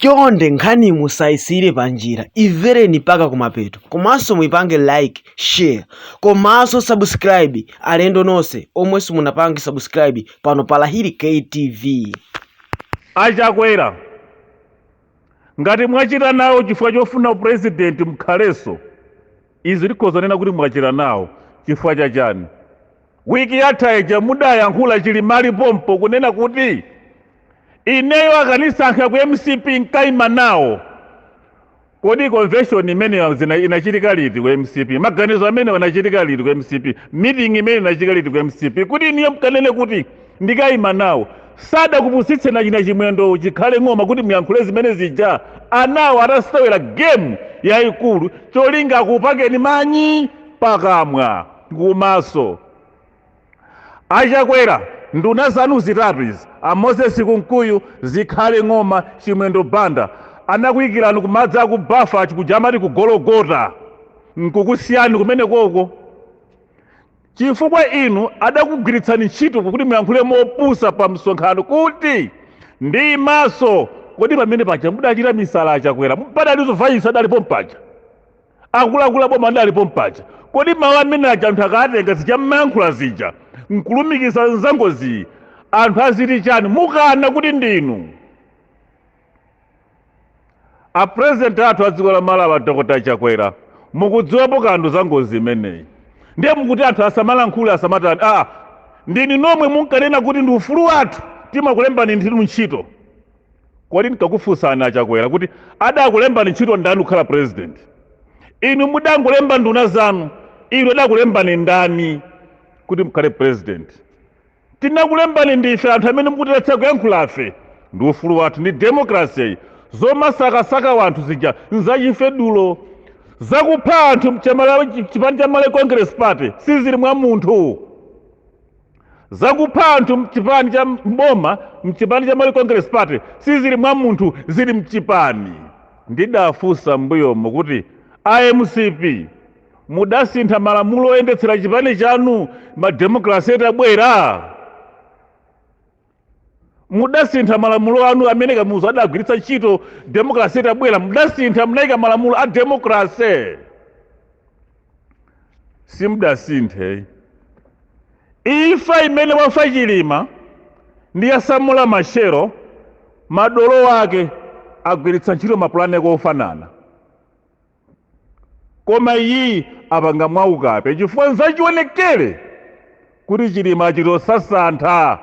Chonde nkhaniyi musaisiyire panjira imvereni mpaka kumapeto komanso muipange like, share komanso subscribe alendo nonse omwe simunapange subscribe pano pa Lahiri K TV. A Chakwera ngati mwachita nawo chifukwa chofuna upresident mkhalenso izi tikhoza kunena kuti mwachita nawo chifukwa cha chani? Week yatha ija mudayankhula Chilima ali pompo kunena kuti ineyo akanisankha ku mcp nkaima nawo. Kodi convention imeneyo inachitika liti ku mcp? Maganizo amenewo anachitika liti ku mcp? Meeting imene inachitika liti ku mcp? Kuti inuyo mkanene kuti ndikaima nawo. Sadakupusitseni achina Chimwendo Zikhale Ng'oma kuti muyankhule zimene zija. Anawo atasewera game yayikulu cholinga akupakeni manyi pakamwa. Kumaso. A Chakwera, nduna zanu zitatu izi, a Moses Kunkuyu, Zikhale Ng'oma, Chimwendo Banda, anakuikirani ku madzi aku bafa chikuja amati ku Gologota, nkukusiyani kumenekoko chifukwa inu adakugwiritsani ntchito kuti muyankhule mopusa pa msonkhano kuti ndiimanso. Kodi pamene paja mudachita misala a Chakwera? Padalinso vice adali pompaja? akuluakulu aboma adali pompaja kodi mawu amene aja anthu akatenga zija mmayankhula zija nkulumikiza nzangoziyi anthu aziti chani mukana kuti ndinu a president athu a dziko la malawi a dr chakwera mukudziwapo kanthu za ngozi imeneyi ndiye mukuti anthu asamalankhule asamatani aa ndinu nomwe munkanena kuti ndi ufulu wathu timakulembani ndinu ntchito kodi ndikakufunsani achakwera kuti adakulembani ntchito ndani kukhala president inu mudangolemba nduna zanu inu adakulembani ndani kuti mkhale president tinakulembani ndife anthu amene mukutiletsa kuyankhulafe ndi ufulu wathu ndi demokraseyi zomasakasaka wanthu zija nzachifedulo zakupha anthu mchipani cha malawi congress party sizili mwa munthu zakupha anthu mchipani cha mboma mchipani cha Malawi Congress Party sizili mwa munthu zili mchipani ndidafunsa mbuyomo kuti a mcp mudasintha malamulo oyendetsera chipani chanu mademokrasi itabwera mudasintha malamulo anu amene kamuzu adagwiritsa ntchito demokrasi itabwera mudasintha mudayika malamulo a demokrasi simudasinthe imfa imene wafa chilima ndi ya samora machel madolo ake agwiritsa ntchito mapulani ake ofanana koma iyiyi apanga mwaukape chifukwa nzachionekere kuti chilima achitosasantha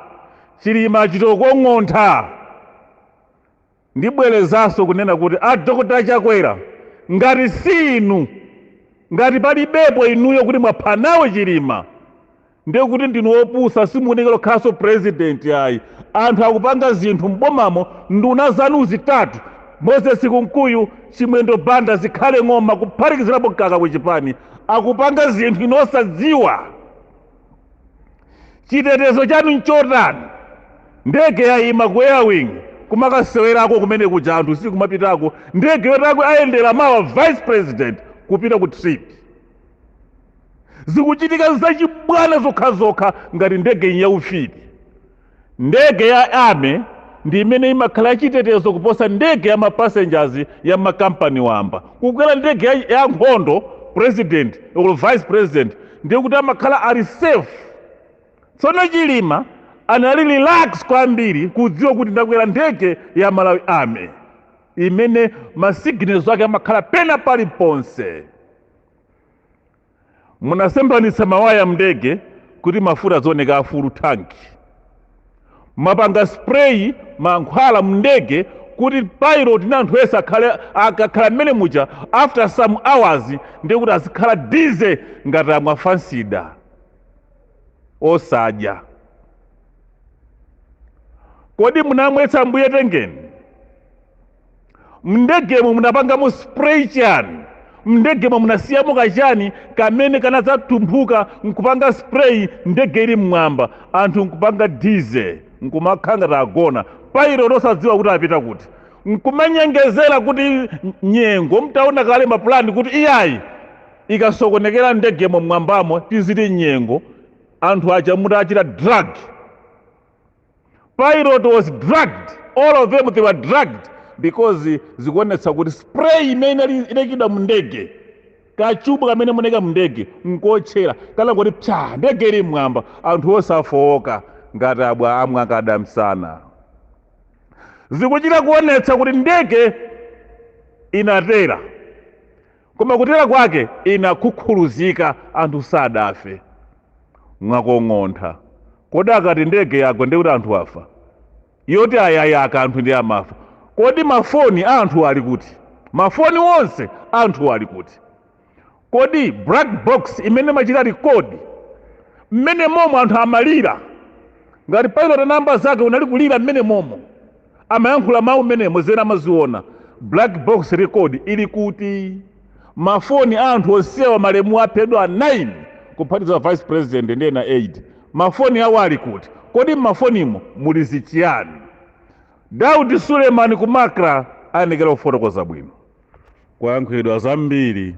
chilima achitokong'ontha ndibwerezanso kunena kuti a dr chakwera ngati si inu ngati palibepo inuyo kuti mwapha nawo chilima ndiye kuti ndinu opusa simukuyenera kukhalanso president ayi anthu akupanga zinthu mbomamo nduna zanu zitatu moses kunkuyu chimwendo banda zikhale ng'oma kuphatikizirapo mkaka kuchipani akupanga zinthu inu osadziwa chitetezo chanu nchotani ndege yayima ku airwing kumakasewerako kumene kuja anthu sikumapitako ndege yoti ako ayendera mawa vice president kupita ku trip zikuchitika zachibwana zokhazokha ngati ndege ndi yaufiti ndege ya army ndi imene imakhala yachitetezo kuposa ndege ya mapassengers ya makampani wamba kukwera ndege ya, ya nkhondo president or vice president ndiye kuti amakhala ali safe tsono chilima anali relax kwambiri kudziwa kuti ndakwera ndege ya malawi army imene masignals ake amakhala pena paliponse munasemphanitsa mawaya mndege kuti mafuta azioneka a full tank munapanga spray mankhwala mndege kuti pilot ndi anthu ese akhale akakhala mmene muja after some hours ndiye kuti azikhala dizzy ngati amwa fansida osadya kodi munawamwetsa ambuye tengeni mndegemo munapangamo spray chani mndegemo munasiyamo kachani kamene kanadzatumphuka nkupanga spray ndege ili mmwamba anthu nkupanga dizzy nkumakhala ngati agona pilot osadziwa kuti apita kuti nkumanyengezera kuti nyengo mutaona kale mapulani kuti iyayi ikasokonekera ndegemo mmwambamo tiziti nyengo anthu aja mutawachita drug Pilot was drugged, all of them they were drugged because zikuonetsa kuti spray imene inali- inayikidwa mu ndege kachubu kamene munaika mu ndege nkotchera kanangoti psa ndege ili mmwamba anthu onse afowoka ngati abwa amwa kadamsana zikuchita kuonetsa kuti ndege inatera Koma kutera kwake inakhukhuluzika, anthu sadafe. Mwakong'ontha. Kodi akati ndege yagwa ndiye kuti anthu afa? Yoti ayayaka anthu ndi amafa. Kodi mafoni a anthuwo ali kuti? Mafoni onse a anthuwo ali kuti? Kodi black box imene imachita record mmene momo anthu amalira, ngati pilot ndi amnzake anali kulira mmene momo? amayankhula mawu mmenemo zena amaziona black box record ili kuti mafoni a anthu onsewa malemuwa aphedwa 9 kuphatiza vice president ndi ena 8 mafoni awo ali kuti kodi m'mafonimo muli zichiyani daudi suleiman ku macra ayenekera kufotokoza bwino kwayankhulidwa zambiri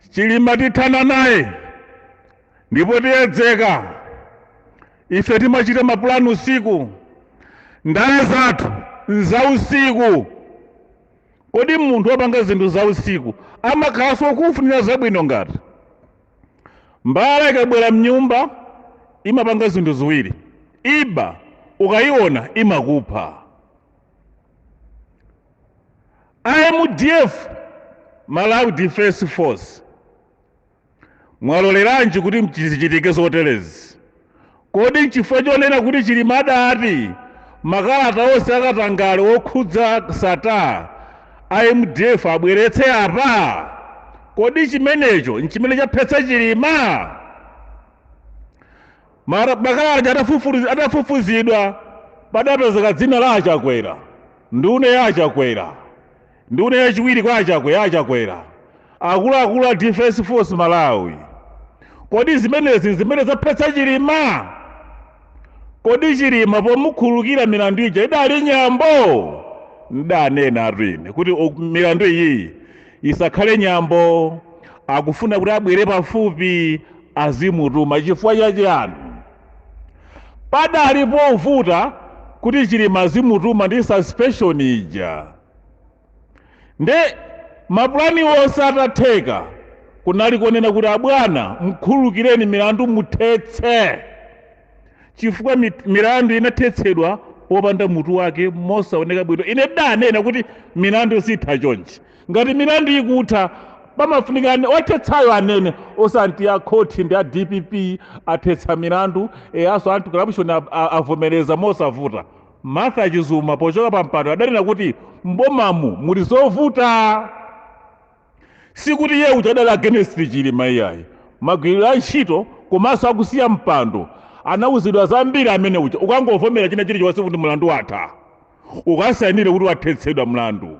chilima tithana naye ndipo tiyedzeka ife timachita mapulani usiku ndale zathu nza usiku kodi munthu wopanga zinthu za usiku amakhalanso okufunira zabwino ngati mbala ikabwera mnyumba imapanga zinthu ziwiri iba ukayiona imakupha amdf malawi defense force Mwaloleranji kuti zichitike zoterezi? Kodi nchifukwa chonena kuti Chilima adati makalata onse akatangale okhudza Sattar a mdf abweretse apa? Kodi chimenecho nchimene chaphetsa Chilima? Makalata aja atafufuzidwa padapezeka dzina la Achakwera, nduna ya Achakwera. Nduna yachiwiri kwa Achakwera Achakwera, akuluakulu a Defence Force Malawi. Kodi zimenezi nzimene zaphetsa Chilima? Kodi Chilima pomukhululukira milandu ija idali nyambo? Ndanenatu ine kuti milandu iyiyi isakhale nyambo. Akufuna kuti abwere pafupi azimutuma chifukwa cha chiyani? Padali povuta kuti Chilima azimutuma ndi suspension ija. nde mapulani onse atatheka kunali kunena kuti abwana mkhululukireni milandu muthetse chifukwa milandu inathetsedwa popanda mutu wake mosaoneka bwino ine ndanena kuti milandu siitha chonchi ngati milandu ikutha pamafunika eni othetsayo anene osati a khoti ndi a dpp athetsa milandu awanso anti corruption a- a- avomereza mosavuta Martha Chizuma pochoka pampando adanena kuti m'bomamu muli zovuta. Sikuti iye uja adali against Chilima iyayi. Magwiridwe a ntchito komanso akusiya mpando anauzidwa zambiri amene uja. Ukangovomera china chilichonse kuti mlandu watha, ukasainire kuti wathetsedwa mlandu.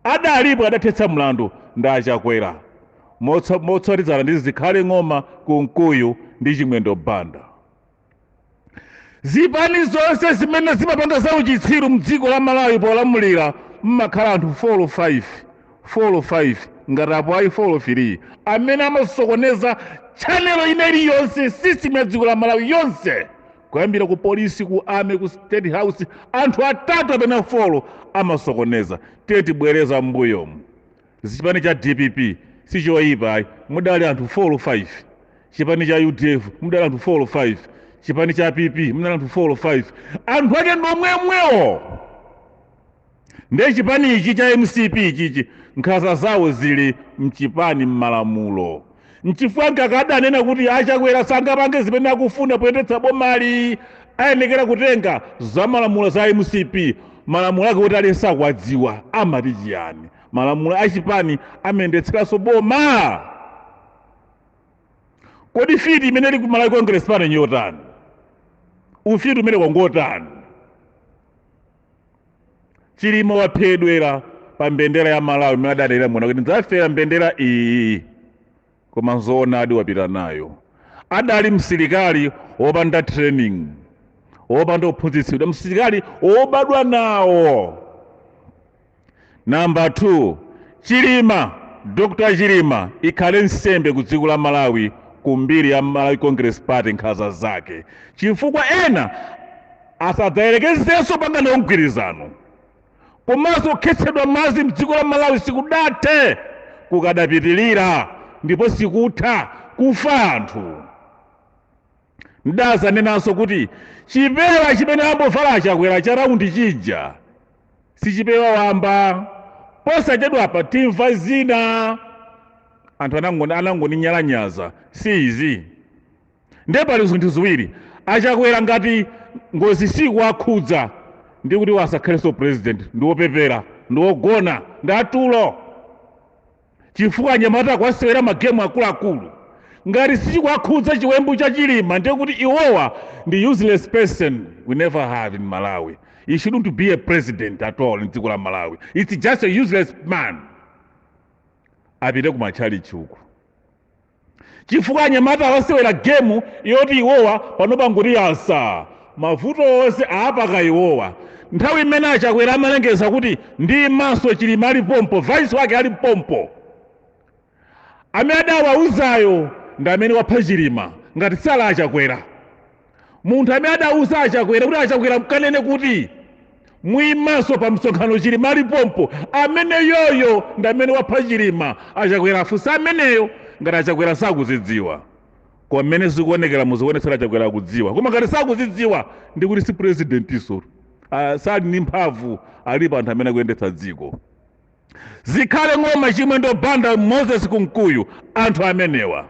Palibe adathetsa mlandu ndi a Chakwera motsa- motsatizana ndi Zikhale Ng'oma, Kunkuyu ndi Chimwendo Banda. zipani zonse zimene zimapanga za uchitsiru mdziko la malawi polamulira mmakhala anthu 4 olo 5 ngati apo ayi 4 3 amene amasokoneza chanelo ina iliyonse system ya dziko la malawi yonse kuyambira ku polisi ku army ku state house anthu atatu kapena folo amasokoneza titabwerera mbuyomu Chipani cha dpp sichoipa ayi mudali anthu 4 olo 5 chipani cha udf mudali anthu 4 olo 5 chipani cha pp mudali anthu 4 olo 5 anthu ake ndomwemwewo ndiye chipani ichi cha mcp ichichi nkhanza zawo zili mchipani mmalamulo nchifukwa nkakadanena kuti achakwera sangapange zimene akufuna poyendetsa bomali ayenekera kutenga zamalamulo za mcp malamulo ake kuti aliyense akuwadziwa amati chiyani malamulo a chipani amayendetseranso boma kodi fiti imene ili ku malawi congress pano njotani ufiti umenewo ngotani chilima waphedwera pa mbendera ya malawi imene adanena mwana kuti ndidzafera mbendera iyi koma nzoonadi wapita nayo adali msilikali wopanda training wopanda ophunzitsidwa msilikali wobadwa nawo namba 2 chilima dr chilima ikhale nsembe ku dziko la malawi ku mbiri ya malawi congress party nkhanza zake chifukwa ena asadzayerekezenso panga nawo mgwirizano komanso kukhetsedwa mwazi mdziko la Malawi sikudathe, kukadapitilira ndipo sikutha kufa anthu. Ndazanenanso kuti chipewa chimene ambovala achakwera cha raundi chija si chipewa wamba. Posachedwapa timva zina anthu anangoni anangoninyalanyaza si izi. ndiye pali zinthu ziwiri achakwera ngati ngozi sikuwakhudza ndi kuti asakhalenso president ndiwopepera ndiwogona ndi atulo chifukwa anyamata akuwasewera magemu akuluakulu ngati sichikuwakhudza chiwembu cha chilima ndiye kuti iwowa ndi useless person we never have in malawi he shouldn't be a president at all mdziko la malawi it's just a useless man apite ku matchalichi uku chifukwa anyamata awasewera gemu yoti iwowa panopa ngotinyansa mavuto onse aapaka iwowa nthawi imene achakwera amalengeza kuti ndi maso chilima ali pompo vice wake ali pompo amene adawauzayo ndi amene wapha chilima ngati sali achakwera munthu amene adauza achakwera kuti achakwera mukanene kuti muimanso pa msonkhano chilima ali pompo ameneyoyo ndi amene wapha chilima achakwera afunse ameneyo ngati achakwera sakuzidziwa koma mmene zikuonekera muzikuonetsera achakwera akudziwa koma ngati sakuzidziwa ndi kuti si presidentinso uh, sali ndi mphamvu alipo anthu amene akuyendetsa dziko zikhale ng'oma chimwendo banda moses kunkuyu anthu amenewa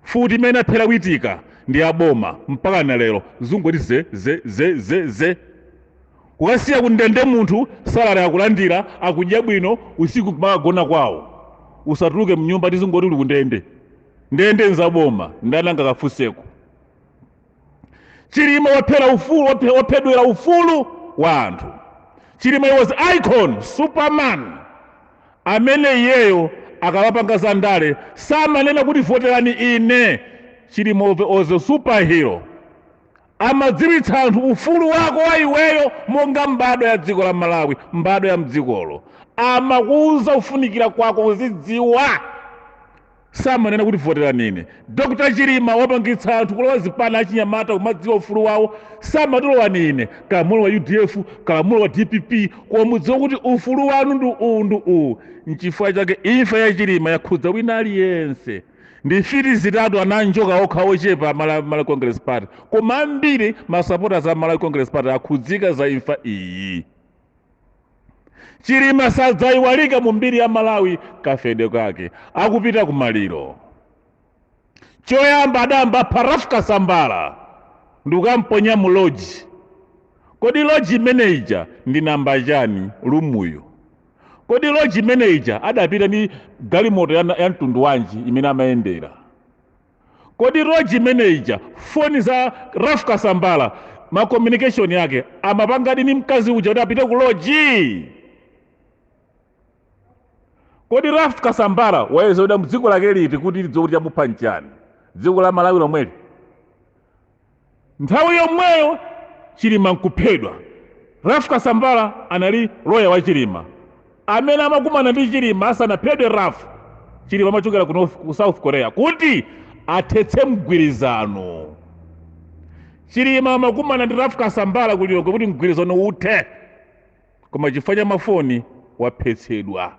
mfuti imene anaphera witika ndi yaboma mpaka na lero zangoti ze ze ze ze ze kukasiya kundende munthu salary akulandira akudya bwino usiku kumakagona kwawo usatuluke mnyumba tizingoti uli kundende ndende nzaboma ndani angakafunseko chilima waphera ufulu waphe- waphedwera ufulu wa anthu chilima was icon superman amene iyeyo akamapanga za ndale samanena kuti voterani ine chilima was a superhero amadziwitsa anthu ufulu wako wa iweyo monga mbadwa ya dziko la malawi mbadwa ya mdzikolo amakuwuza kufunikira kwako kuzidziwa samanena kuti voterani ine dr chilima wapangitsa anthu kulowa zipani achinyamata kumadziwa ufulu wawo samati lowani ine kalamulo wa udf kalamulo wa dpp koma mudziwe kuti ufulu wanu ndi uwu ndi uwu nchifukwa chake imfa ya chilima yakhudza wina aliyense ndi mfiti zitatu ananjoka okha ochepa Mala- malawi congress party koma ambiri masupporters a malawi congress party akhudzika za imfa iyi chilima sadzayiwalika mu mbiri ya malawi kafedwe kake akupita ku maliro choyamba adayamba pa ralph kasambala ndikukamponya mu loji kodi loji manager ndi namba chani limuyo kodi loji manager adapita ndi galimoto ya, ya mtundu wanji imene amayendera kodi loji manager foni za ralph kasambala ma communication yake amapangadi ni mkazi uja kuti apite ku loji kodi ralph kasambala wayezedwa mthupi lake liti kuti lidziwe kuti chamupha nchani dziko la malawi lomweli Nthawi yomweyo Chilima nkuphedwa. Ralph Kasambala anali lawyer wa Chilima. Amene amakumana ndi Chilima asanaphedwe Ralph, Chilima amachokera ku North, ku South Korea kuti athetse mgwirizano. Chilima amakumana ndi Ralph Kasambala ku Lilongwe kuti mgwirizano uthe. Koma chifukwa cha mafoni waphetsedwa.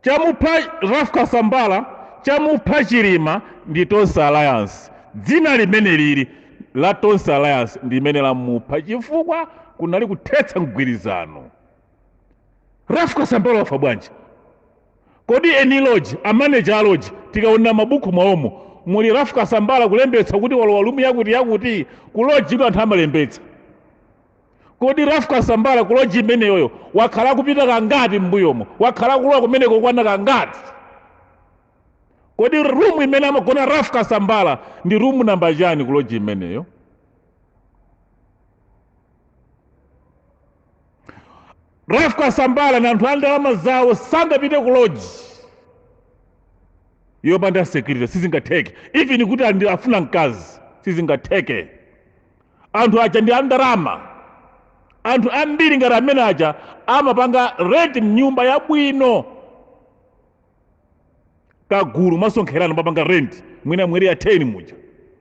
chamupha raf kasambala chamupha chilima ndi tonse alliance dzina limene lili la tonse alliance ndi limene lamupha chifukwa kunali kuthetsa mgwirizano raf kasambala wafa bwanji kodi eni loji amaneja aloji tikaona mabuku mwaomo muli raf kasambala kulembetsa kuti walowa rumu yakuti yakuti kuloji ino anthu amalembetsa kodi rafu kasambala ku loji imeneyoyo wakhala akupita kangati m'mbuyomo wakhala akulowa kumeneko kukwana kangati kodi rumu imene amagona rafu kasambala ndi rumu namba chani ku loji imeneyo rafu kasambala ndi anthu a ndalama zawo sangapite ku loji yopanda security sizingatheke even kuti ali ndi- afuna mkazi sizingatheke anthu aja ndi andalama anthu ambiri ngati amene aja amapanga rent nyumba yabwino kagulu amasonkherana amapanga rent mwina mu eriya 10 muja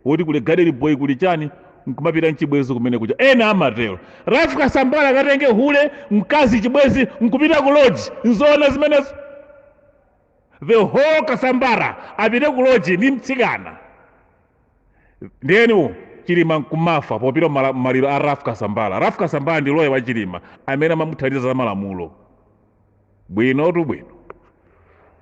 woti kuli gadeni boy kuli chani nkumapita nchibwenzi kumenekuja ena amatero rafu kasambala akatenge hule mkazi chibwenzi nkupita ku lodge nzoona zimenezo the whole kasambala apite ku lodge ndi mtsikana ndiyeniwo chilima nkumafa popita mala- maliro a raf kasambala raf kasambala ndi loya wa chilima amene amamuthandiza za malamulo bwinotu bwino